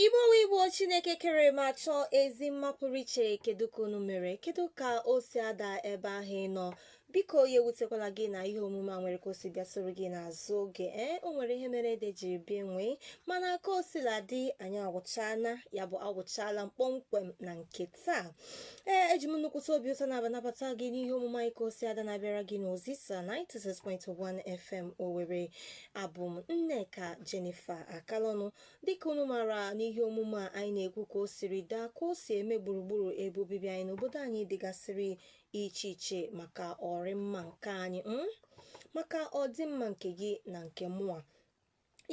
Igbo Igbo Chineke kere ma chọọ ezi mma pụrụ iche kedu ka unu mere kedu ka o si ada ebe ahụ ị nọ biko ya ewutekwala gị na ihe omume a nwere ka o si bịa soro gị n'azụ oge ee o nwere ihe mere ede jiri bịa nwee mana ka o sila dị anyị awụchala ya bụ awụchala m kpọmkwem na nke taa ee eji m nnukwute obi ụtọ na-aba nabata gị n'ihe omume anyị ka o si ada na-abịara gị n'Ozisa 96.1 FM Owerri abụ m Nneka Jennifer Akalọnụ dịka unu maara n'ihe omume a anyị na-ekwu ka o siri daa ka o si eme gburugburu ebe obibi anyị n'obodo anyị dịgasịrị iche iche maka ọrịmma nke anyị mm? maka ọdịmma nke gị na nke mụa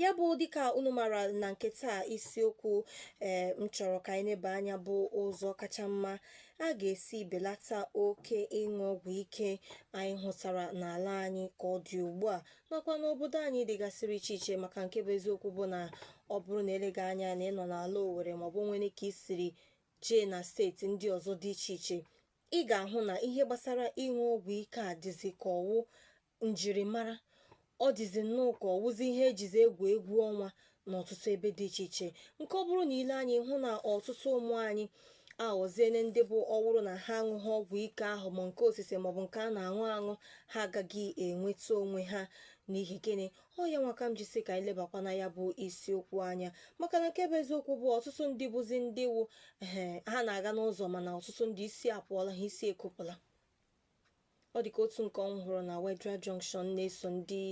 ya bụ dịka unu maara na nke taa isiokwu ee m chọrọ ka anyị neba anya bụ ụzọ kacha mma a ga-esi belata oke ịṅụ ọgwụ ike anyị hụtara n'ala anyị ka ọ dị ugbu a nakwa n'obodo anyị dịgasịrị iche iche maka nke bụ eziokwu bụ na ọ bụrụ na eleghị anya na ị nọ n'ala Owerri maọbụ nwere ka ị siri jee na steeti ndị ọzọ dị iche iche ị ga-ahụ na ihe gbasara ịṅụ ọgwụ ike a dịzi ka ọ wụ njirimara ọ dịzi nnọọ ka ọ wụzi ihe e jizi egwu egwu ọnwa n'ọtụtụ ebe dị iche iche nke ọ bụrụ na i lee anya ị hụ na ọtụtụ ụmụ anyị aghọziene ndị bụ ọ wụrụ na ha aṅụghị ọgwụ ike ahụ ma nke osise maọbụ nke a na-aṅụ aṅụ ha agaghị enweta onwe ha n'ihi gịnị ọ ya nwa ka m ji sị ka anyị lebakwa na ya bụ isiokwu anya maka na nke bụ eziokwu bụ ọtụtụ ndị bụzi ndị wu ee ha na-aga n'ụzọ mana ọtụtụ ndị isi apụọla ha isi ekopụla ọ dịka otu nke mụ hụrụ na Wetheral Junction na-eso ndị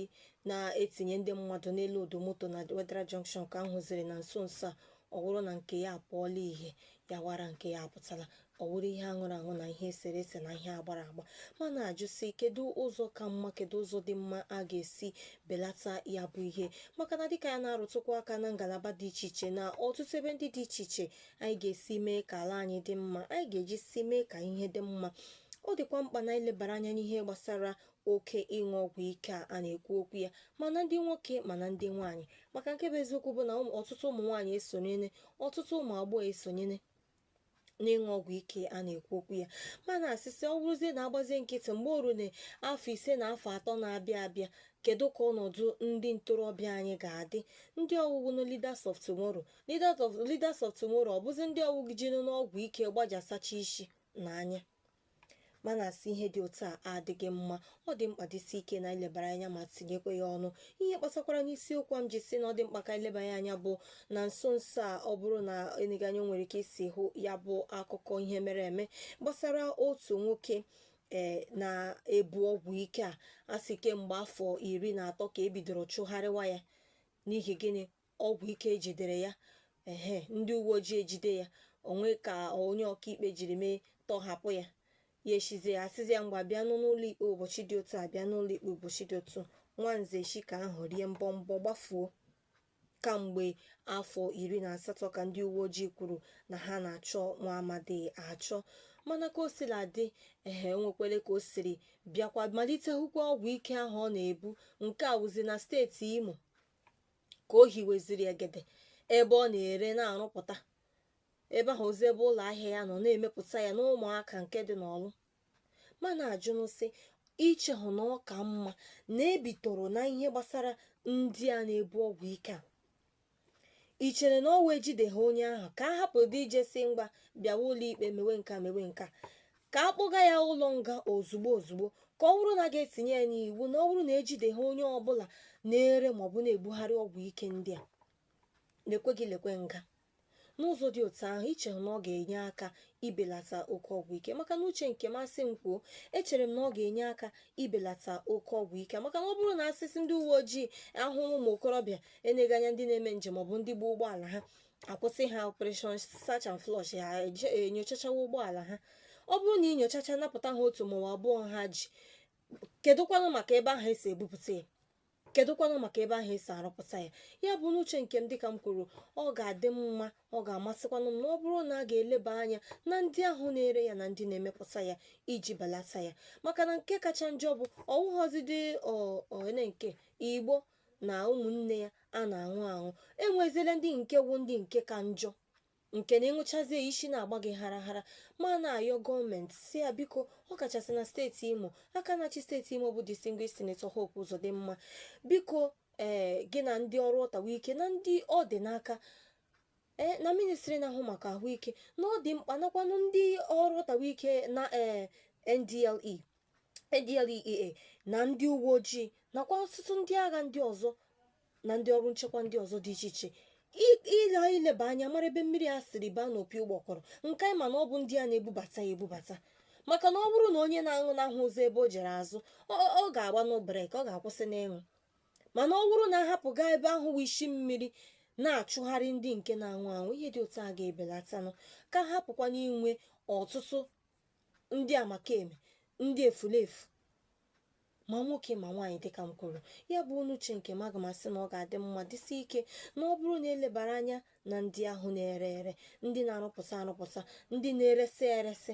na-etinye ndị mmadụ na-elodu moto na Wetheral Junction ka m hụziri na nso nso a ọ wụrụ na nke ya apụọla ihe ya wụ ara nke ya apụtala ọ wụrụ ihe a ṅụrụ aṅụ na ihe e sere ese na ihe a gbara agba mana a jụ sị kedu ụzọ ka mma kedu ụzọ dị mma a ga-esi belata ya bụ ihe maka na dịka ya na-arụtụkwa aka na ngalaba dị iche iche na ọtụtụ ebe ndị dị iche iche anyị ga-esi mee ka ala anyị dị mma anyị ga-eji si mee ka ihe dị mma ọ dịkwa mkpa na anyị lebara anya n'ihe gbasara oke ịṅụ ọgwụ ike a a na-ekwu okwu ya ma na ndị nwoke ma na ndị nwaanyị maka nke bụ eziokwu bụ na ụmụ- ọtụtụ ụmụ nwaanyị esonyene ọtụtụ ụmụ agbọghọ esonyene n'ịṅụ ọgwụ ike a na-ekwu okwu ya mana a sị sị ọ bụrụzie na a gbazie nkịtị mgbe o runa afọ ise na afọ atọ na-abịa abịa kedu ka ọnọdụ ndị ntorobịa anyị ga-adị ndị ọ wụ wụ na leaders of tomorrow leaders of leaders of tomorrow ọ bụzi ndị ọ wụ gị jinu n'ọgwụ ike gbajasacha isi na anya mana a sị ihe dị otu a adịghị mma ọ dị mkpa dịsi ike na e lebara anya ma tinyekwa ya ọnụ ihe kpatakwara n'isiokwu m ji sị na ọ dị mkpa ka e lebanye anya bụ na nso nso a ọ bụrụ na eneghị anya nwere ka i si hụ ya bụ akụkọ ihe mere eme gbasara otu nwoke ee na-ebu ọgwụ ike a a sị kemgbe afọ iri na atọ ka e bidoro chụgharịwa ya n'ihi gịnị ọgwụ ike ejidere ya ehe ndị uwe ojii ejide ya o nwee ka onye ọkaikpe jiri mee tọhapụ ya ya echizie ya asịzi ya ngwa bịa n'ụlọ ikpe ụbọchị dị otu a bịa n'ụlọ ikpe ụbọchị dị otu nwanze echi ka ahụ rie mbọ mbọ gbafuo kamgbe afọ iri na asatọ ka ndị uwe ojii kwuru na ha na-achọ nwa amadi achọ mana ka o sila dị ehe enwekwele ka o siri bịakwa malite bukwa ọgwụ ike ahụ ọ na-ebu nke a wụzi na steeti imo ka o hiweziri egede ebe ọ na-ere na-arụpụta ebe ahụ wụzi ebe ụlọ ahịa ya nọ na-emepụta ya n'ụmụaka nke dị n'ọlụ mana ajụnụ sị ichehụ na ọka mma na ebitoro na ihe gbasara ndị a na-ebu ọgwụ ike a i chere na ọ wụ ejide ha onye ahụ ka a hapụdị ije sị ngwa bịawa ụlọikpe mewe nka mewe nka ka a kpụga ya ụlọ nga ozugbo ozugbo ka ọ bụrụ na a ga-etinye ya n'iwu na ọ bụrụ na ejide ha onye ọbụla na-ere maọbụ na-ebugharị ọgwụ ike ndị a lekwe gị lekwe nga n'ụzọ dị otu ahụ i che na ọ ga-enye aka ibelata oke ọgwụ ike maka na uche nke masị m kwuo echere m na ọ ga-enye aka ibelata oke ọgwụ ike maka na ọ bụrụ na asịsị ndị uwe ojii ahụrụ ụmụ okorobịa eneghị anya ndị na-eme njem maọbụ ndị gba ụgbọala ha akwụsị ha operation search and flush ha enyochachawa ụgbọala ha ọ bụrụ na inyochacha napụta ha otu maọbụ abụọ ha ji kedụkwanụ maka ebe ahụ esi ebupụta ya kedụkwanụ maka ebe ahụ esi arụpụta ya ya bụ n'uche nke m dịka m kwuru ọ ga-adị mma ọ ga-amasịkwanụ m na ọ bụrụ na a ga-eleba anya na ndị ahụ na-ere ya na ndị na-emepụta ya iji belata ya maka na nke kacha njọ bụ ọ wụghọzidị one nke igbo na ụmụnne ya a na-aṅụ aṅụ enwezile ndị nke wụ ndị nke ka njọ nke na ị ṅụchazie isi na-agba gị hara hara ma na-ayọ gọọmenti sị ya biko ọ kachasị na steeti imo aka na-achị steeti imo bụ distinguished senator Hope Uzodimma biko ee eh, gị na ndị ọrụ ọtawa ike na ndị ọ dị n'aka ee eh, na ministri na-ahụ maka ahụike na ọ dị mkpa nakwanụ ndị ọrụ ọtawa ike na ee eh, NDLE NDLEA na ndị uwe ojii nakwa ọtụtụ ndị agha ndị ọzọ na ndị ọrụ nchekwa ndị ọzọ dị iche iche ile ileba anya mara ebe mmiri a siri baa n'opi ụgbọgọrọ nke anyị ma na ọ bụ ndị a na-ebubata ya ebubata maka na ọ bụrụ na onye na-aṅụ n'ahụ ụzọ ebe o jere azụ ọ ga-agbanụ brake ọ ga-akwụsị n'ịṅụ mana ọ bụrụ na ahapụ gaa ebe ahụ wụ isi mmiri na-achụgharị ndị nke na-aṅụ aṅụ ihe dị otu a ga-ebelatanụ ka hapụkwana inwe ọtụtụ ndị amakeme ndị efulefu ma nwoke ma nwaanyị dịka m kwuru ya bụ n'uche nke m aga m asị na ọ ga-adị mma dịsị ike na ọ bụrụ na elebara anya na ndị ahụ na-ere ere ndị na-arụpụta arụpụta ndị na-eresị eresị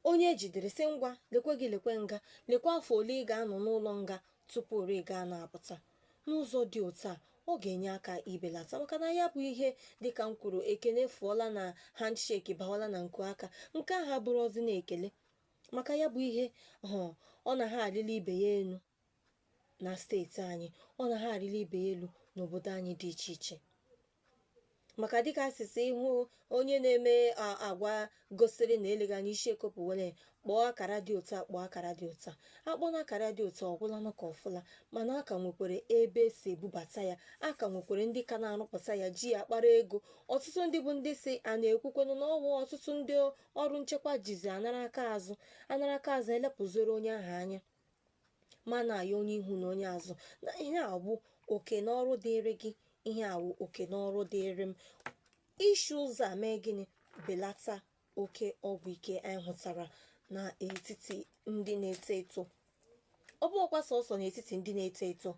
onye ejidere sị ngwa lekwe gị lekwe nga lekwe afọ ole ị ga-anọ n'ụlọ nga tupu ị gaa na-apụta n'ụzọ dị otu a ọ ga-enye aka ibelata maka na ya bụ ihe dịka m kwuru ekele fụọla na handshake bawala na nku aka nke ahụ abụrọzi na ekele maka ya bụ ihe ahụ ọ na ha arịla ibe ya elu na steeti anyị ọ na ha arịla ibe ya elu n'obodo anyị dị iche iche maka dịka a sị sị ị hụ onye na-eme a- agwa gosiri na eleghị anya isi ekopụ were kpọọ akara dị otu a kpọọ akara dị otu a akpọọna akara dị otu a ọ gwụlanụ ka ọ fụla mana a ka nwekwere ebe esi ebubata ya a ka nwekwere ndị ka na-arụpụta ya ji ya akpara ego ọtụtụ ndị bụ ndị si a na-ekwukwenụ na ọwụ ọtụtụ ndị ọrụ nchekwa jizi anara aka azụ anara aka azụ elepụziri onye ahụ anya ma na-ayọ onye ihu na onye azụ na ihe a bụ oke na ọrụ dịịrị gị ihe a bụ oke na ọrụ dịịrị m isi ụzọ a mee gịnị belata oke ọgwụ ike anyị hụtara n'etiti ndị na-eto eto ọ bụghịkwa sọsọ n'etiti ndị na-eto eto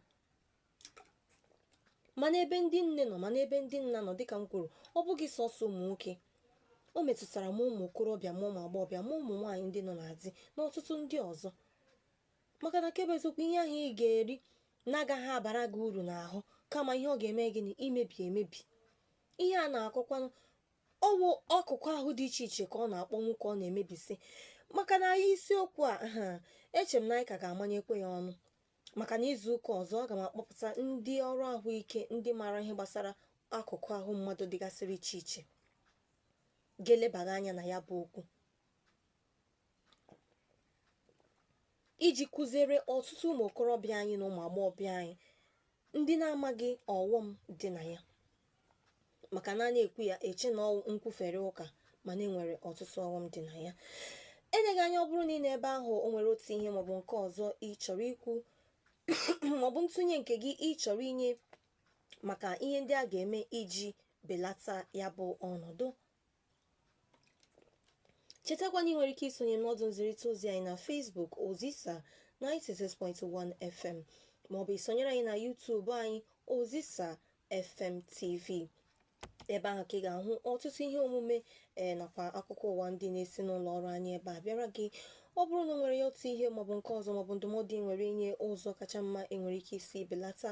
ma n'ebe ndị nne nọ ma n'ebe ndị nna nọ dịka m kwuru ọ bụghị sọsọ ụmụ nwoke o metụtara ma ụmụ okorobịa ma ụmụ agbọghọbịa ma ụmụ nwaanyị ndị nọ na di na ọtụtụ ndị ọzọ maka na nke bụ eziokwu ihe ahụ ị ga-eri na-agaghị abara gị uru n'ahụ kama ihe ọ ga-eme gịnị imebi emebi ihe a na-akọkwanụ ọwụ akụkụ ahụ dị iche iche ka ọ na-akpọnwụ ka ọ na-emebisi maka na isiokwu a eche m na anyị ka ga-amanyekwe ya ọnụ maka na izu ụka ọzọ aga m akpọpụta ndị ọrụ ahụike ndị maara ihe gbasara akụkụ ahụ mmadụ dịgasịrị iche iche ga-elebaga anya na ya bụ okwu iji kụziere ọtụtụ ụmụ okorobịa anyị na ụmụ agbọghọbịa anyị ndị na-amaghị ọghọm dị na ya maka na a na-ekwu ya eche na ọwụ nkwufere ụka mana enwere ọtụtụ ọghọm dị na ya eleghị anya ọ bụrụ na ị nọ ebe ahụ o nwere otu ihe maọbụ nke ọzọ ị chọrọ ikwu maọbụ ntụnye nke gị ị chọrọ inye maka ihe ndị a ga-eme iji belata ya bụ ọnọdụ chetakwa na ị nwere ike isonye n'ọdụ nzirịta ozi anyị na Facebook Ozisa 96.1 FM maọbụ isonyere anyị na YouTube anyị Ozisa FM TV ebe ahụ ka ị ga-ahụ ọtụtụ ihe omume ee nakwa akụkọ ụwa ndị na-esi n'ụlọ ọrụ anyị ebe a bịara gị ọ bụrụ na o nwere ya otu ihe maọbụ nke ọzọ maọbụ ndụmọdụ ị nwere inye ụzọ kacha mma enwere ike isi belata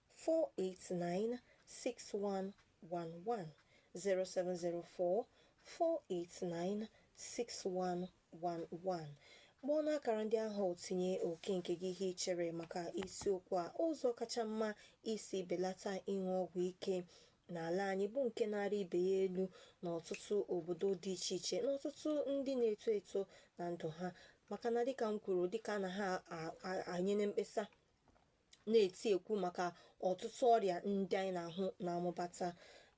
489 6111 0704 489 6111 kpọọ n'akara ndị ahụ tinye oke nke gị ihe i chere maka isiokwu a ụzọ kacha mma isi belata ịṅụ ọgwụ ike n'ala anyị bụ nke na-arị ibe ya elu n'ọtụtụ obodo dị iche iche n'ọtụtụ ndị na-eto eto na ndụ ha maka na dịka m kwuru dịka a na ha enyene mkpesa na-eti ekwu maka ọtụtụ ọrịa ndị anyị na-ahụ na-amụbata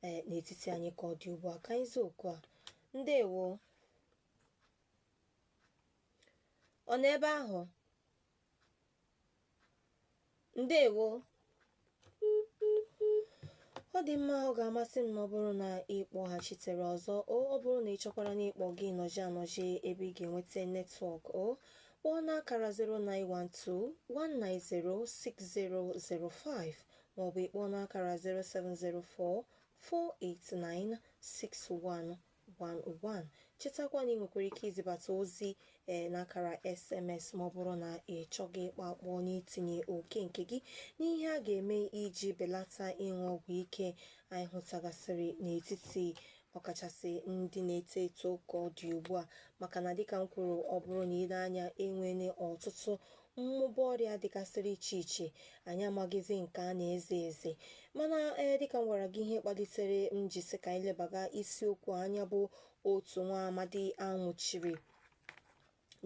ee n'etiti anyị ka ọ dị ugbu a ka anyị zaa oku a ndewo ọ nọ ebe ahụ ndewo ọ dị mma ọ ga-amasị m ma ọ bụrụ na ị kpọghachitere ọzọ o ọ bụrụ na ị chọkwara na ịkpọ gị nọji anọji ebe ị ga-enweta netwọk o kpọọ n'akara 09121906005 maọbụ ị kpọọ n'akara 07044896111 chetakwa na ị nwekwara ike izibata ozi ee n'akara sms ma ọ bụrụ na ị chọghị ịkpọ akpọ n'itinye oke nke gị n'ihe a ga-eme iji belata ịṅụ ọgwụ ike anyị hụtagasịrị n'etiti ọkachasị ndị na-eto eto ka ọ dị ugbu a maka na dịka m kwuru ọ bụrụ na i lee anya enwene ọtụtụ mmụba ọrịa dịgasịrị iche iche anyị amaghịzi nke a na-eze eze mana ee dịka m gwara gị ihe kpalitere m ji sị ka anyị lebaga isiokwu anya bụ otu nwa amadi a nwụchiri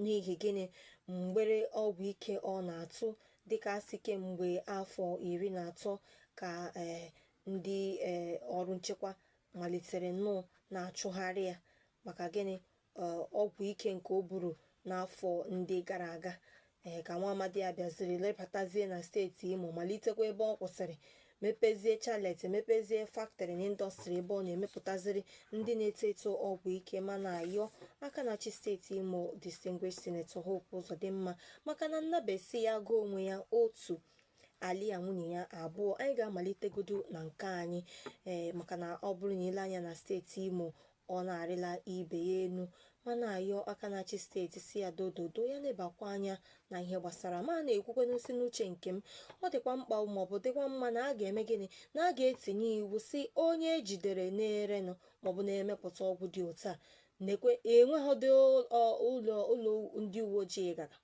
n'ihi gịnị mgbere ọgwụ ike ọ na-atụ dịka a sị kemgbe afọ iri na atọ ka ee ndị ee ọrụ nchekwa malitere nnọọ na-achụgharị ya maka gịnị ee, ọgwụ ike nke o buru n'afọ ndị gara aga ee ka nwa amadi a bịaziri lọbatazie na steeti imo malitekwa ebe ọ kwụsịrị mepezie chalet mepezie factory na indọstrị ebe ọ na-emepụtaziri ndị na-eto eto ọgwụ ike ma na-ayọ aka na-achị steeti imo distinguished senator hope ụzọdịmma maka na nnabe sị ya gụọ onwe ya otu alịa nwunye ya abụọ anyị ga-amalitegodu na nke anyị ee maka na ọ bụrụ na i lee anya na steeti imo Ọ na-arịla ibe ya enu ma na-ayọ aka na-achị steeti sị ya dododo ya lebakwa anya na ihe gbasara ma na-ekwukwenụ sị n'uche nke m ọ dịkwa mkpa maọbụ dịkwa mma na a ga-eme gịnị na a ga-etinye iwu sị onye e jidere na-erenụ maọbụ na-emepụta ọgwụ dị otu a nekwe enweghịdị ụlọ ụlọ ndị uwe ojii ga-aga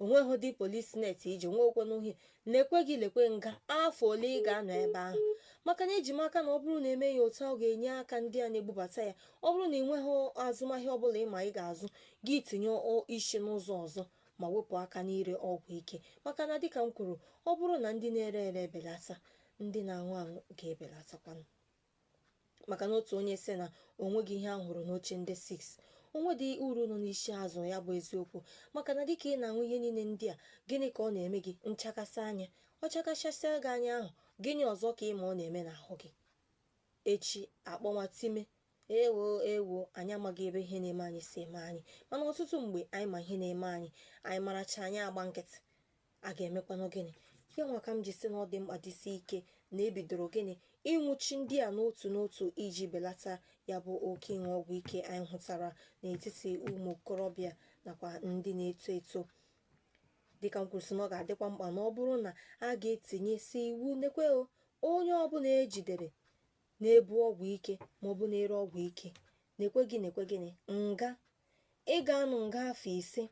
o nweghị ụdị polis net iji nweekwe n'uhie lekwe gị lekwe nga afọ ole ị ga-anọ ebe ahụ maka na eji m aka na ọ bụrụ na e mee ya otu ọ ga-enye aka ndị a na-ebubata ya ọ bụrụ na ị nweghị azụmahịa ọbụla ị ma ị ga-azụ gị tinye isi n'ụzọ ọzọ ma wepụ aka n'ire ọgwụ ike maka na dịka m kwuru ọ bụrụ na ndị na-ere ere ebelata ndị na-aṅụ aṅụ ga-ebelatakwanụ maka na otu onye sị na o nweghị ihe a hụrụ n'oche ndị isi o nwedị uru nọ n'isi azụ ya bụ eziokwu maka na dịka ị na-aṅụ ihe niile ndị a gịnị ka ọ na-eme gị nchakasị anya ọ chakachasịa gị anya ahụ gịnị ọzọ ka ị ma ọ na-eme n'ahụ gị echi akpọnwa time ewo ewo anyị amaghị ebe ihe na-eme anyị si eme anyị mana ọtụtụ mgbe anyị ma ihe na-eme anyị anyị maracha anyị agba nkịtị a ga-emekwanụ gịnị ya nwa ka m ji si na ọ dị mkpa dịsi ike na e bidoro gịnị ịnwụchi ndị a n'otu n'otu iji belata ya bụ oke ịṅụ ọgwụ ike anyị hụtara n'etiti ụmụ okorobịa nakwa ndị na-eto eto dịka m kwuru sị na ọ ga-adịkwa mkpa na ọ bụrụ na a ga-etinyesi iwu nekwe o, onye ọbụla ejidere na-ebu ọgwụ ike maọbụ na-ere ọgwụ ike nekwe gị nekwe gịnị nga ị ga-anọ nga afọ ise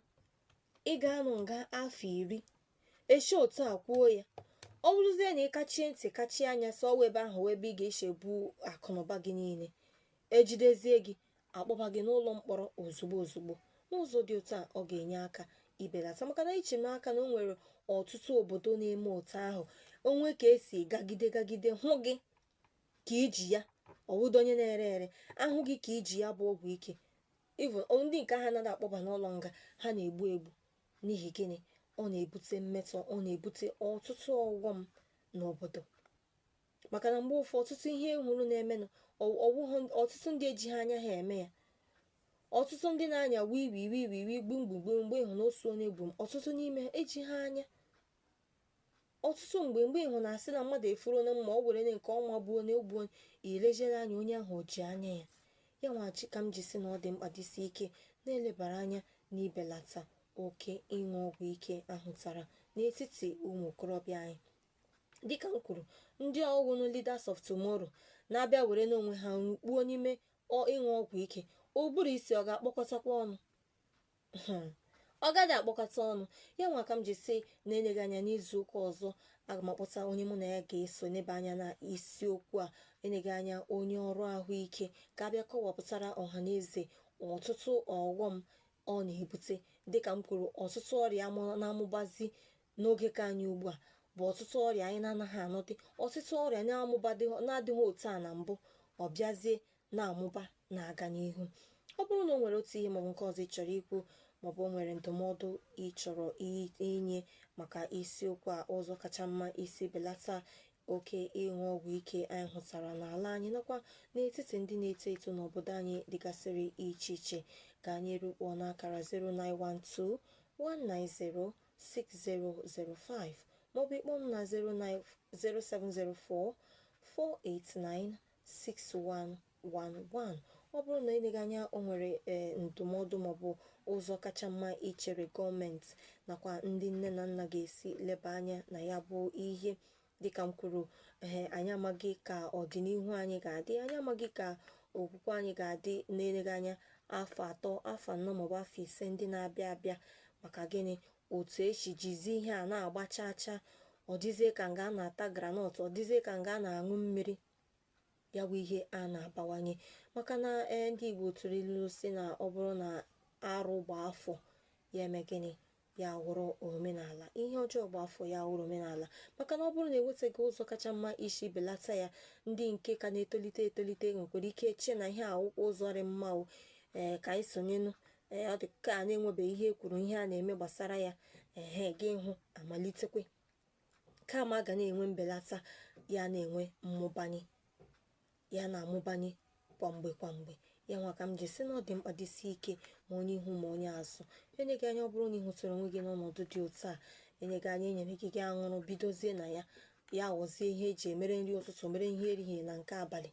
ị ga-anọ nga afọ iri e si otu a kwuo ya ọ bụrụzie na ị kachie ntị kachie anya sị ọ wụ ebe ahụ ebe ị ga-esi ebu akụnụba gị niile ejidezie gị akpọba gị n'ụlọ mkpọrọ ozugbo ozugbo n'ụzọ dị otu a ọ ga-enye aka ibelata maka na eji m aka na o nwere ọtụtụ obodo na-eme otu ahụ o nwee ka esi gagide gagide hụ gị ka i ji ya ọ wụdị onye na-ere ere a hụ gị ka i ji ya bụ ọgwụ ike even ọ- ndị nke ha anaghị akpọba n'ụlọ nga ha na-egbu egbu n'ihi gịnị ọ na-ebute mmetọ ọ na-ebute ọtụtụ ọghọm n'obodo maka na mgbe ụfọdụ ọtụtụ ihe ị hụrụ na-emenụ ọ- ọ wụghụ ọtụtụ ndị ejighị anya ha eme ya ọtụtụ ndị na-anya wii wii wii wii wii gbum gbum gbum mgbe ị hụ na o su onye gbum ọtụtụ n'ime ha ejighị anya ọtụtụ mgbe mgbe ị hụ na a sị na mmadụ efuru na mma ọ were onye nke ọwa gbuo onye o gbuo onye ilejere anya onye ahụ o ji anya ya ya nwachi ka m ji si na ọ dị mkpa dịsi ike na e lebara anya na ibelata oke ịṅụ ọgwụ ike ahụtara n'etiti ụmụ okorobịa anyị dịka m kwuru ndị ọ wụnụ leaders of tomorrow na-abịa were n'onwe ha rukpuo n'ime ịṅụ ọgwụ ike ụbụrụ isi ọ ga-akpọkọtakwa ọnụ hmm, ọ gaghị akpọkọta ọnụ ya nwa ka m ji si na eneghị anya n'izu ụka ọzọ aga m akpọta onye mụ na ya ga-eso nebe anya na isiokwu a eneghị anya onye ọrụ ahụike ka ọ bịa kọwapụtara ọha na eze ọtụtụ ọghọm ọ na-ebute dịka m kwuru ọtụtụ ọrịa na-amụbazi n'oge nke anyị ugbu a bụ ọtụtụ ọrịa anyị na-anaghị anụdị ọtụtụ ọrịa na-adịghị otu a na mbụ ọ bịazie na-amụba na-aga n'ihu ọ bụrụ na o nwere otu ihe maọbụ nke ọzọ ị chọrọ ikwu maọbụ o nwere ndụmọdụ ị chọrọ inye maka isiokwu a ụzọ kacha mma isi belata oke ịṅụ ọgwụ ike anyị hụtara n'ala anyị nakwa n'etiti ndị na-eto eto n'obodo anyị dịgasịrị iche iche gaa n'iru kpọọ n'akara 0912 190 6005 maọbụ ị kpọọ m na 0704 489 6111 ọ bụrụ na eleghị anya o nwere ee ndụmọdụ maọbụ ụzọ kacha mma i chere gọọmenti nakwa ndị nne na nna ga-esi leba anya na ya bụ ihe dịka m kwuru ee anyị amaghị ka ọdịnihu anyị ga-adị anyị amaghị ka okwukwe anyị ga-adị n'eleghị anya afọ atọ afọ anọ maọbụ afọ ise ndị na-abịa abịa maka gịnị otu e si jizi ihe a na-agba chaa chaa ọ dịzie ka nga a na-ata granọt ọ dịzie ka nga a na-aṅụ mmiri ya bụ ihe a na-abawanye maka na ee ndị Igbo tụrụ ilu sị na ọ bụrụ na arụ gbaa afọ ya eme gịnị ya wụrụ omenala ihe ọjọọ gbaa afọ ya wụrụ omenala maka na ọ bụrụ na enwetaghị ụzọ kacha mma isi belata ya ndị nke ka na-etolite etolite nwekwara ike chie na ihe a wụkwa ụzọ rị mma o ee eh, ka anyị sonyenụ ee eh, ọ dị ka a na-enwebeghị ihe e kwuru ihe a na-eme gbasara ya ehe eh, gị hụ amalitekwa kama a ga na-enwe mbelata ya na-enwe mmụbanye ya na-amụbanye kwa mgbe kwa mgbe ya nwa ka m ji sị na ọ dị mkpa dịsi ike ma onye ihu ma onye azụ eleghị anya ọ bụrụ na ị hụtara onwe gị n'ọnọdụ dị otu a eleghị anya e nyere gị gị aṅụrụ bidozie na ya ya ghọzie ihe e ji emere nri ụtụtụ mere ihe erihie na nke abalị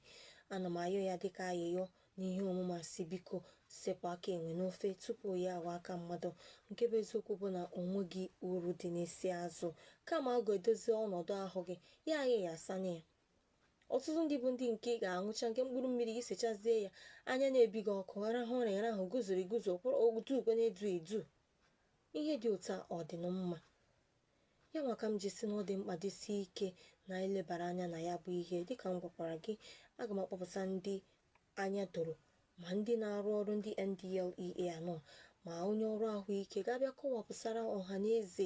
ana m ayọ ya dịka ayịyọ n'ihe omume a sị biko sepụ aka enwe n'ofe tupu ya awa aka mmadụ nke bụ eziokwu bụ na o nweghị uru dị n'isi azụ kama ọ ga-edozi ọnọdụ ahụ gị ya ayịyasanye ya ọtụtụ ndị bụ ndị nke ga-aṅụcha nke mkpụrụ mmiri gị sechazie ya anya na-ebi gị ọkụ arahụ ụra ya ahụ guzoro eguzo kwụrụ otu ukwe na-edu edu ihe dị otu a ọ dịnụ mma ya nwa ka m ji sị na ọ dị mkpa dịsi ike na e lebara anya na ya bụ ihe dịka m gwakwara gị aga m akpọpụta ndị anya doro ma ndị na-arụ ọrụ ndị NDLEA anọ ma onye ọrụ ahụike ga-abịa kọwapụsara ọha na eze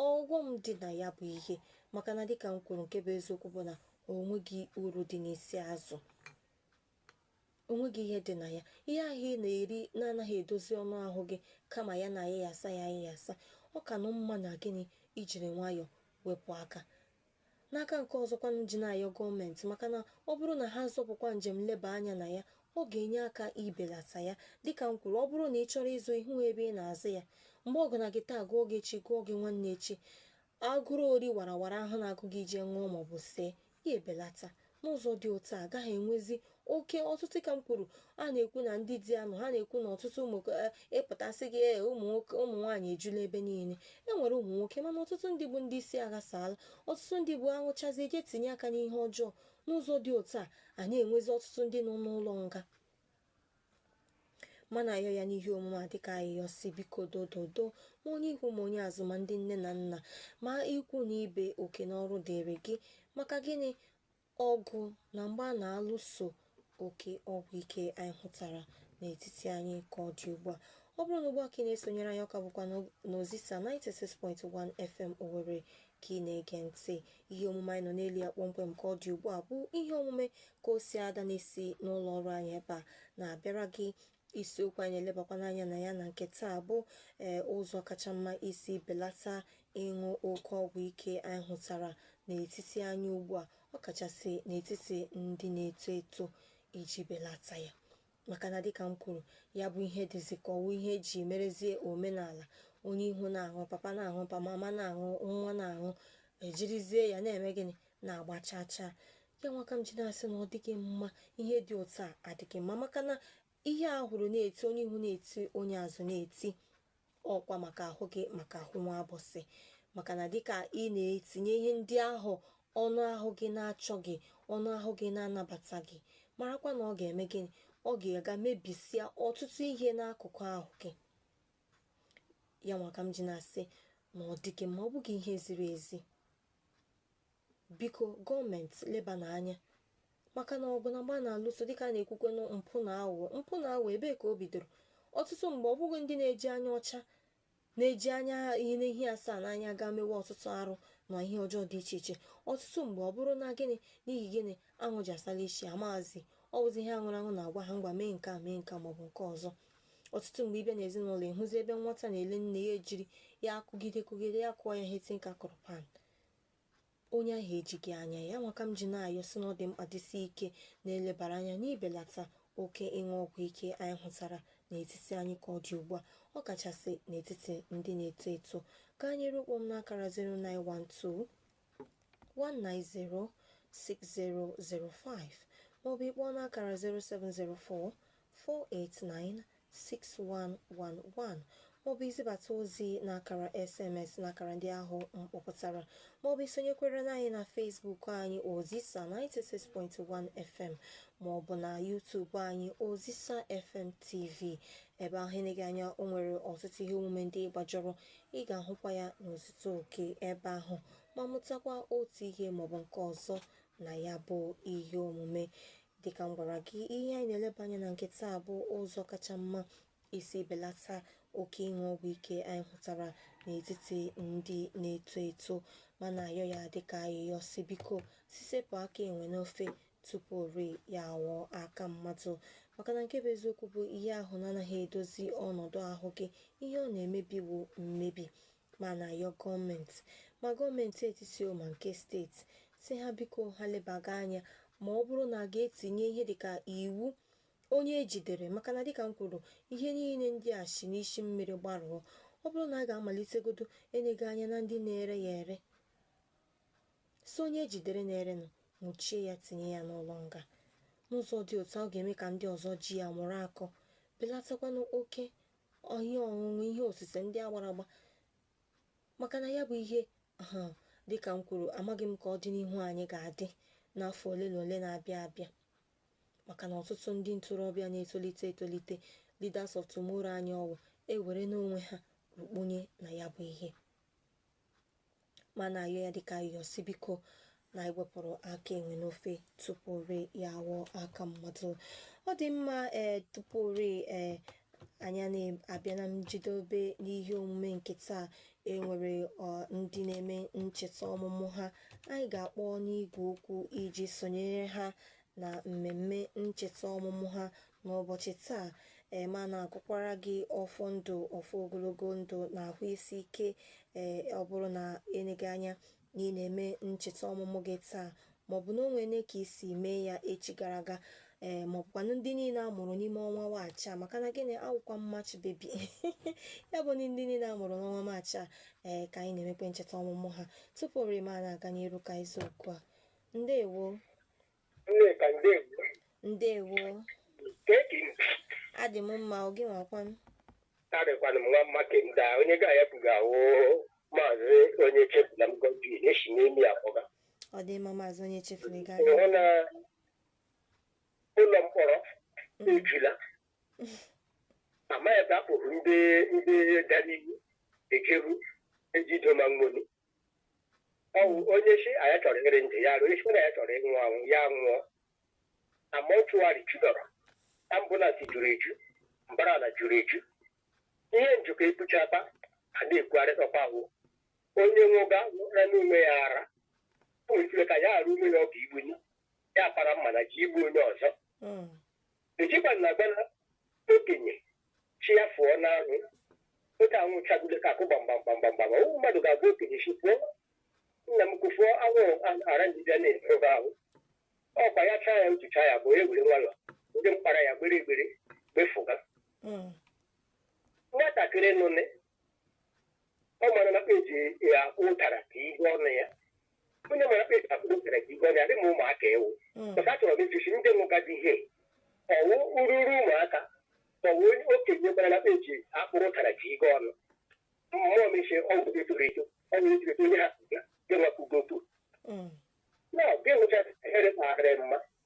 ọghọm dị na ya bụ ihe maka na dịka m kwuru nke bụ eziokwu bụ na o nweghị uru dị n'isi azụ o nweghị ihe dị na ya ihe ahụ ị na-eri na-anaghị edozi ọnụ ahụ gị kama ya na-ayịyasa ya ayịyasa ọ ka nụ mma na gịnị i jiri nwayọọ wepụ aka N'aka nke ọzọkwanụ ji na-ayọ gọọmenti maka na ọ bụrụ na ha zọpụkwa njem nleba anya na ya ọ ga-enye aka ibelata ya dịka m kwuru ọ bụrụ na ị chọrọ ịzụ ị hụ ebe ị na-azụ ya mgbe ọ gụna gị taa gụọ gị echi gụọ gị nwanne echi agụrụ ori warawara ahụ na-agụ gị ije ṅụọ maọbụ see ya ebelata n'ụzọ dị otu a agaghị enwezi oke ọtụtụ ka m kwuru a na-ekwu na ndị di anọghị a na-ekwu na ọtụtụ ụmụ eh, ị pụta sị gị eh, ụmụ nwoke ụmụ nwaanyị ejula ebe niile e nwere ụmụ nwoke mana ọtụtụ ndị bụ ndị isi aghasaala ọtụtụ ndị bụ aṅụchazie je tinye aka n'ihe ọjọọ n'ụzọ dị otu a a na-enwezi ọtụtụ ndị nọ n'ụlọ nga ma na-ayọ ya n'ihe omume a dịka ayịyọ sị biko dododo ma onye ihu ma onye azụ ma ndị nne na nna ma ikwu na ibe oke na ọrụ dịrị gị maka gịnị ọgụ na mgba a na-alụso oke ọgwụ ike anyị hụtara n'etiti anyị ka ọ dị ugbu a ọ bụrụ na ugbu a ka ị na-esonyere anyị ọ ka bụkwa n'Ozisa 96.1 FM Owerri ka ị na-ege ntị ihe omume anyị nọ n'elu ya kpọmkwem ka ọ dị ugbu a bụ ihe omume ka o si ada na-esi n'ụlọ ọrụ anyị ebe a na-abịara gị isiokwu anyị elebakwanụ anya na ya na nke taa bụ ee ụzọ kacha mma isi belata ịṅụ oke ọgwụ ike anyị hụtara n'etiti anyị ugbu a ọkachasị n'etiti ndị na-eto eto iji belata ya maka na dịka m kwuru ya bụ ihe dịzi ka ọ wụ ihe e ji merezie omenala onye ihu na-aṅụ papa na-aṅụ mama na-aṅụ nwa na-aṅụ ejirizie ya na-eme gịnị na-agba chaa chaa ya nwa ka m ji na-asị na ọ dịghị mma ihe dị otu a adịghị mma maka na ihe a hụrụ na-eti onye ihu na-eti onye azụ na-eti ọkwa maka ahụ gị maka ahụ nwa abụsị maka na dịka ị na-etinye ihe ndị ahụ ọnụ ahụ gị na-achọghị ọnụ ahụ gị na-anabataghị marakwa na ọ ga-eme gịnị ọ ga-aga mebisịa ọtụtụ ihe n'akụkụ ahụ gị ya nwa ka m ji na-asị na ọ dịghị mma ọ bụghị ihe ziri ezi biko gọọmenti lebanụ anya maka na ọgụ na mgba na-alụso dịka a na-ekwukwa na mpụ na aghụghọ mpụ na aghụghọ ebee ka o bidoro ọtụtụ mgbe ọ bụghị ndị na-eji anya ọcha na-eji anya ihe n'ihi asaa n'anya gaa mewe ọtụtụ arụ na ihe ọjọọ dị iche iche ọtụtụ mgbe ọ bụrụ na gịnị n'ihi gịnị aṅụ ji asala isi amazi ọ bụzi ihe a ṅụrụ aṅụ na-agwa ha ngwa mee nke a mee nke a maọbụ nke ọzọ ọtụtụ mgbe ị bịa n'ezinụlọ ị hụzi ebe nwata na-ele nne ya ejiri ya akụgide kụgide ya kụọ ya ihe tinka kụrụ pan onye ahụ ejighị anya ya nwa ka m ji na-ayọ sị na ọ dị mkpa dịsi ike na e lebara anya n'ibelata oke ịṅụ ọgwụ ike anyị hụtara n'etiti anyị ka ọ dị ugbu a ọ kachasị n'etiti ndị na-eto eto gaa n'iru kpọọ m n'akara 0912 190 6005 maọbụ ị kpọọ n'akara 0704 489-6111 maọbụ izibata ozi n'akara sms n'akara ndị ahụ m kpọpụtara maọbụ isonyekwere na anyị na Facebook anyị Ozisa 96.1 FM maọbụ na YouTube anyị Ozisa FM TV ebe ahụ eneghị anya o nwere ọtụtụ ihe omume ndị ị gbajọrọ ị ga-ahụkwa ya n'ozuzu oke ebe ahụ ma mụtakwa otu ihe maọbụ nke ọzọ na ya bụ ihe omume dịka m gwara gị ihe anyị na-eleba anya na nke taa bụ ụzọ kacha mma isi belata oke ịṅụ ọgwụ ike anyị hụtara n'etiti ndị na-eto eto ma na-ayọ ya dịka ayịyọ sị biko sị sepụ aka enwe n'ofe tupu ori ya awọ aka mmadụ maka na nke bụ eziokwu bụ ihe ahụ na-anaghị edozi ọnọdụ ahụ gị ihe ọ na-emebi wụ mmebi ma na-ayọ gọọmenti ma gọọmenti etiti o ma nke steeti sị ha biko ha lebaga anya ma ọ bụrụ na a ga-etinye ihe dịka iwu onye ejidere maka na dịka m kwuru ihe niile ndị a si n'isi mmiri gbarụọ ọ bụrụ na a ga-amalitegodo nega anya na ndị na-ere ya ere sị onye ejidere na-erenụ nwụchie ya tinye ya n'ụlọ nga n'ụzọ dị otu a ọ ga-eme ka ndị ọzọ ji ya mụrụ akọ belatakwanụ oke ihe ọṅụṅụ ihe osise ndị a gbara agba maka na ya bụ ihe dịka m kwuru amaghị m ka ọdịnihu anyị ga-adị n'afọ ole na ole na-abịa abịa maka na ọtụtụ ndị ntorobịa na-etolite etolite leaders of tomorrow anyị ọwụ ewerena onwe ha rukpunye na ya bụ ihe ma na-ayọ ya dịka ayọ sị biko na ewepụrụ aka enwe n'ofe tupu ree ya awọ aka mmadụ ọ dị mma ee tupu ree ee anyị na-abịa na njedobe n'ihe omume nke taa enwere ndị na-eme ncheta ọmụmụ ha anyị ga-akpọ n'igwe okwu iji sonyere ha na mmemme ncheta ọmụmụ ha n'ụbọchị taa ee ma na-agọkwara gị ọfọ ndụ ọfọ ogologo ndụ na ahụ isi ike ee ọ bụrụ na eleghị anya na ị na-eme ncheta ọmụmụ gị taa maọbụ na o nwere ka i si mee ya echi gara aga ee maọbụkwanụ ndị niile a mụrụ n'ime ọnwa maachị a maka na gịnị awụkwa m March baby ya bụ ndị niile a mụrụ n'ọnwa maachị a ee ka anyị na-emekwe ncheta ọmụmụ ha tupu orima na-aga n'iru ka isiokwu a ndewo Nneka ndewo. ndewo Ka eke m adị m mma ọ gịnwa kwan arịkwana m nwa mma kemda onye ga ya pụga awụ m maazị Onyechefula m Godwin na-esi n'Emii akpọga. ọ dị mma maazị Onyechefula ị ga-aga Ịhụ na ụlọ mkpọrọ ejula. Amaghị ebe a kpụrụ ndị ndị dara iwu ejeru ejido ma nwere. ọwụ onye sị na ya chọrọ ịrị ndụ ya onye sị na ya chọrọ ịnwụ anwụ ya nwụọ na mortuary judọrọ ambulance juru eju mbara ala juru eju ihe njikọ ebucha akpa a na-ekwugharịtakwa ahụ onye nwụga nwụra n'onwe ya ara o nwere ike ka ya arụ onwe ya ọ ga igbu ya ya para mma na-eje igbu onye ọzọ ejikwa na agwana okenye shị ya fụọ n'anwụ oge anwụ chagide ka akụ gbamgbamgbamgbamgbam ọwụ mmadụ ga-agwa okenye shị fụọ n'anwụ kwụfụọ anwụ ara njide na-efe ahụ ọkwa ya chaa ya utucha ya bụ e were nwayọ ndị mkpara ya gbere egbere gbefụga nwatakịrị nụne ọ mara na eji ya ụtara ka ihe ọnụ ya onye mara kpe ka ụtara ka ihe ọnụ ya dị ma ụmụaka ewu maka achọrọ m ịjụsi ndị nụgazi ihe ọwụ ururu ụmụaka ọwụ onye okenye gbara na eji akpụrụ ụtara ka ihe ọnụ mmụọ mechie ọgwụ etoro eto ọgwụ etoro eto onye ha gị nwakụgopu na gị nwụcha ehere kpagharị mma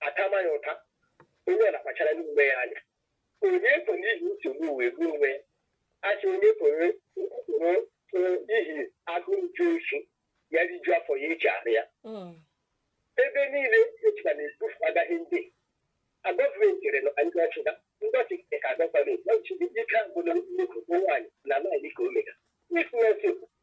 atama ya ụta onye ọla kpachara onwe ya anya onye ko n'ihi nsogbu wee gbuo onwe ya achị onye koro n'ihi agụụ ju oshi ya riju afọ ya eji arụ ya Mm. ebe niile ejikwa na-ebufu agaghị ndị a gọọmenti chere na ndị ọchịga ndị ọchịga ka gọọmenti ọchịga ike agwụla nnukwu nwaanyị na nwaanyị ka omega ịkụnyesi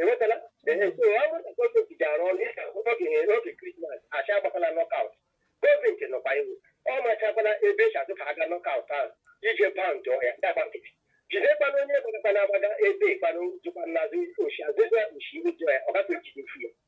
enwetala ee so ọ bụrụ na gọọmenti ga-arụ ọrụ dịka oge oge krismas asị agbakwala knockout gọọmenti nọkwa iwu ọ machakwala ebe eji azụ ka aga knockout ahụ ije paụnd ọhịa dagba nkịtị jidekwana onye gbagakwana agbaga ebe kwanụ jụkwa n'azụ oshi azụzụ oshi iwu jụọ ya ọ gafe jide fu ya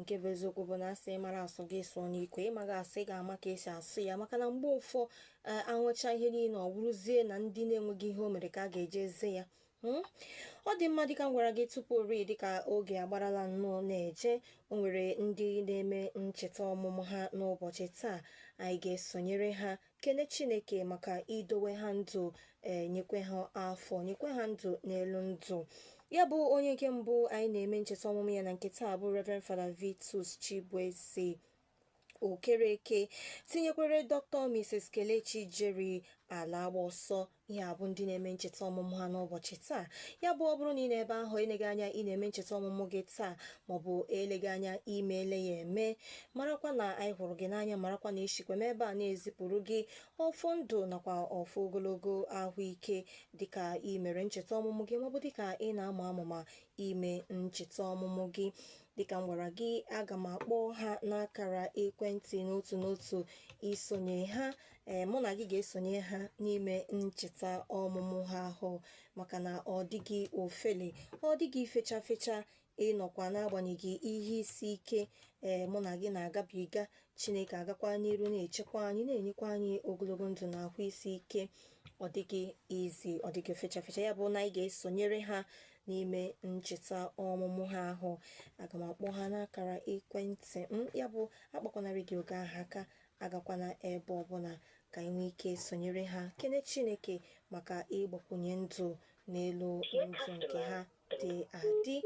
nke bụ eziokwu bụ na asị ị mara asụ gị sụọ n'ikwe ịmaghị asụ ị ga-ama ka esi asụ ya maka na mgbe ụfọ e, anwụcha ihe niile ọ bụrụzie na ndị na-enweghị ihe o mere ka a ga-eje eze ya hmm? ọ dị mma dịka m gwara gị tupu ori dịka oge agbarala nnọọ na-eje o nwere ndị na-eme ncheta ọmụmụ ha n'ụbọchị taa anyị ga-esonyere ha kene chineke maka idowe ha ndụ ee nyekwe ha afọ nyekwe ha ndụ n'elu ndụ ya bụ onye nke mbụ anyị na-eme ncheta ọmụmụ ya na nke taa bụ Reverend Father Vitus Chibueze Okereke tinyekwere Dr. Mrs. Kelechi Jerry Alagbaoso ha bụ ndị na-eme ncheta ọmụmụ ha n'ụbọchị taa ya bụ ọ bụrụ na ị nọ ebe ahụ eleghị anya ị na-eme ncheta ọmụmụ gị taa maọbụ eleghị anya imeele ya eme marakwa na anyị hụrụ gị n'anya marakwa na esikwa m ebe a na-ezipụrụ gị ọfọ ndụ nakwa ọfọ ogologo ahụike dịka ị mere ncheta ọmụmụ gị maọbụ dịka ị na-ama amụma ime ncheta ọmụmụ gị dịka m gwara gị aga m akpọ ha n'akara ekwentị n'otu n'otu isonye ha ee mụ na gị ga-esonye ha n'ime ncheta ọmụmụ ha ahụ maka na ọ dịghị ofele ọ dịghị fecha fecha ịnọkwa n'agbanyeghị ihe isi ike ee mụ na gị na-agabiga chineke agakwa n'iru na-echekwa anyị na-enyekwa anyị ogologo ndụ na ahụ isi ike ọ dịghị easy ọ dịghị fecha fecha ya bụ na anyị ga-esonyere ha n'ime ncheta ọmụmụ ha ahụ aga m akpọ ha n'akara ekwentị m ya bụ akpakwana redio gị ahụ aka agakwana ebe ọbụla ka anyị nwee ike sonyere ha kene chineke maka ịgbakwunye ndụ n'elu ndụ nke ha dị adị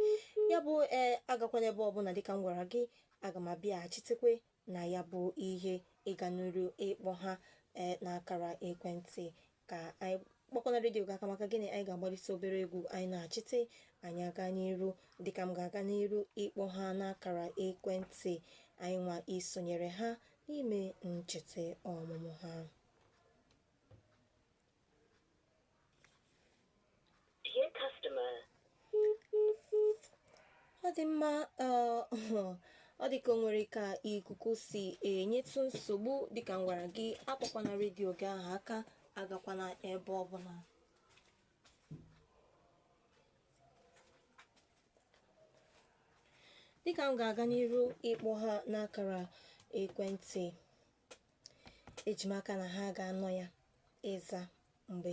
ya bụ ee agakwana ebe ọbụla dịka m gwara gị aga m abịaghachitekwe na ya bụ ihe ịga n'iru ịkpọ ha ee n'akara ekwentị ka anyị akpọkwana redio gị aka maka gịnị anyị ga-agbalịsi obere egwu anyị nachite anyị aga n'iru dịka m ga-aga n'iru ịkpọ ha n'akara ekwentị anyị nwa isonyere ha n'ime ncheta ọmụmụ ha Dear customer. ọ dị mma eh, ọ dị ka o nwere ka ikuku si enyetụ nsogbu dịka m gwara gị akpọkwana redio gị ahụ aka agakwana ebe ọbụla dịka m ga-aga n'iru ịkpọ ha n'akara ekwentị eji m aka na ha ga-anọ ya ịza mgbe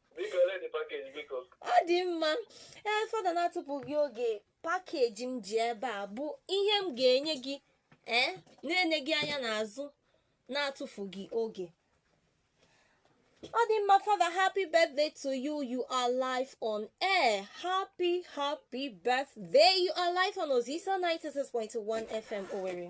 Biko ole dị pakeji biko? ọ dị mma ee fada na-atụfughị oge pakeji m ji ebe a bụ ihe m ga-enye gị ee na-eneghị anya n'azụ na-atụfughị oge ọ dị mma fada happy birthday to you you are live on air happy happy birthday you are live on Ozisa 96.1 FM Owerri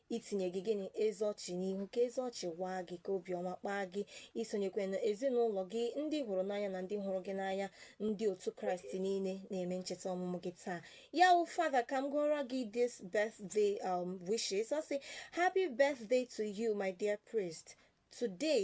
itinye gị gịnị ezi ọchị n'ihu ka ezi ọchị waa gị ka obiọma kpaa gị isonyekwe na ezinụlọ gị ndị ị hụrụ n'anya na ndị hụrụ gị n'anya ndị otu kraịst niile na-eme ncheta ọmụmụ gị taa ya wụ fada ka m gụọrọ gị this birthday um, wishes ọ sị happy birthday to you my dear priest today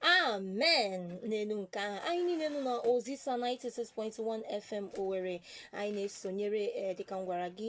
amen n'elu nke ahụ anyị niile nọ na ozisa 96.1 fm owere anyị na-esonyere ee dịka m gwara gị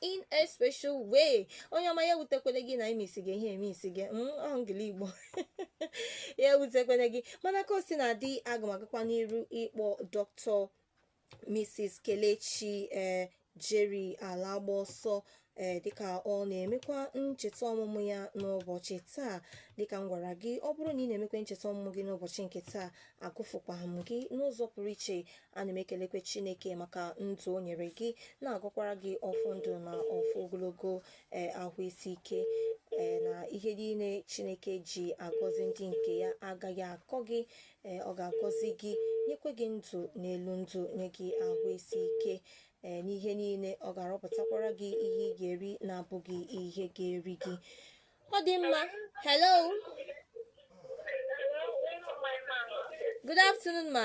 in a special way onye ọma ya wutekwele gị na imisi gị ihe emisi gị ọngili igbo ya wutekwele gị mana ka o sina dị aga m agakwa n'iru ịkpọ dọkịta mrs kelechi ee jerry alagbaoso ee dịka ọ na-emekwa ncheta ọmụmụ ya n'ụbọchị taa dịka m gwara gị ọ bụrụ na ị na-emekwa ncheta ọmụmụ gị n'ụbọchị nke taa agụfụkwa m gị n'ụzọ pụrụ iche ana m ekelekwe chineke maka ndụ o nyere gị na-agọkwara gị ọfọ ndụ na ọfọ ogologo ee ahụ isi ike ee na ihe niile chineke ji agọzi ndị nke ya agaghị akọ gị ee ọ ga-agọzi gị nyekwe gị ndụ n'elu ndụ nye gị ahụ isi ike ee n'ihe niile ọ ga-arọpụtakwara gị ihe ị ga-eri na-abụghị ihe ga-eri gị ọ dị mma hello good afternoon ma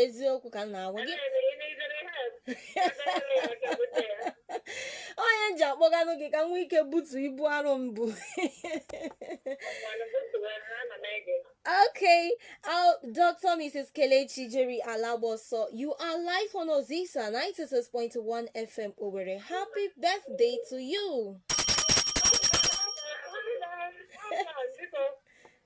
eziokwu ka m na-agwa gị onye ji akpọganụ gị ka m nwee ike butu ibu arụ m bu Okay, uh, Dr. Mrs. Kelechi Jerry Alaboso, you are live on Ozisa 96.1 FM Owerri. Happy birthday to you.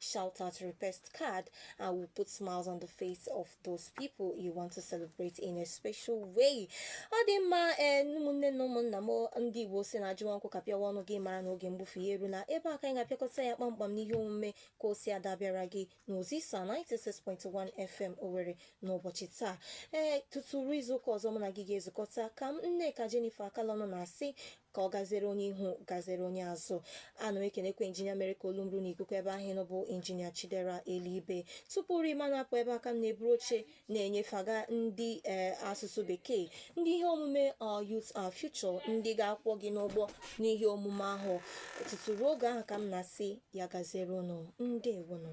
shout out request card and we'll put smiles on the face of those people you want to celebrate in a special way ọ dị mma ee ụmụnne na ụmụnna m ndị Igbo sị na ajụwa nkwụ kapịawa ọnụ gị mara na oge mgbufu ya erula ebe a ka anyị ga-apịakọta ya kpamkpam n'ihe omume ka o si ada bịara gị n'Ozisa 96.1 FM Owerri n'ụbọchị taa ee tutu ruo izuụka ọzọ mụ na gị ga-ezukọta ka m Nneka Jennifer Akalọnụ na-asị ka ọ gazere onye ihu gazere onye azụ ana m ekenekwa injinia mere ka olu m ruo n'ikuku ebe ahụ ị nọ bụ injinia Chidera Elibe tupu ri ma na-apụ ebe a ka m na-eburu oche na-enyefaga ndị ee asụsụ bekee ndị ihe omume Our Youth Our Future ndị ga-akwọ gị n'ụgbọ n'ihe omume ahụ tutu ruo oge ahụ ka m na-asị ya gazere unu ndewonụ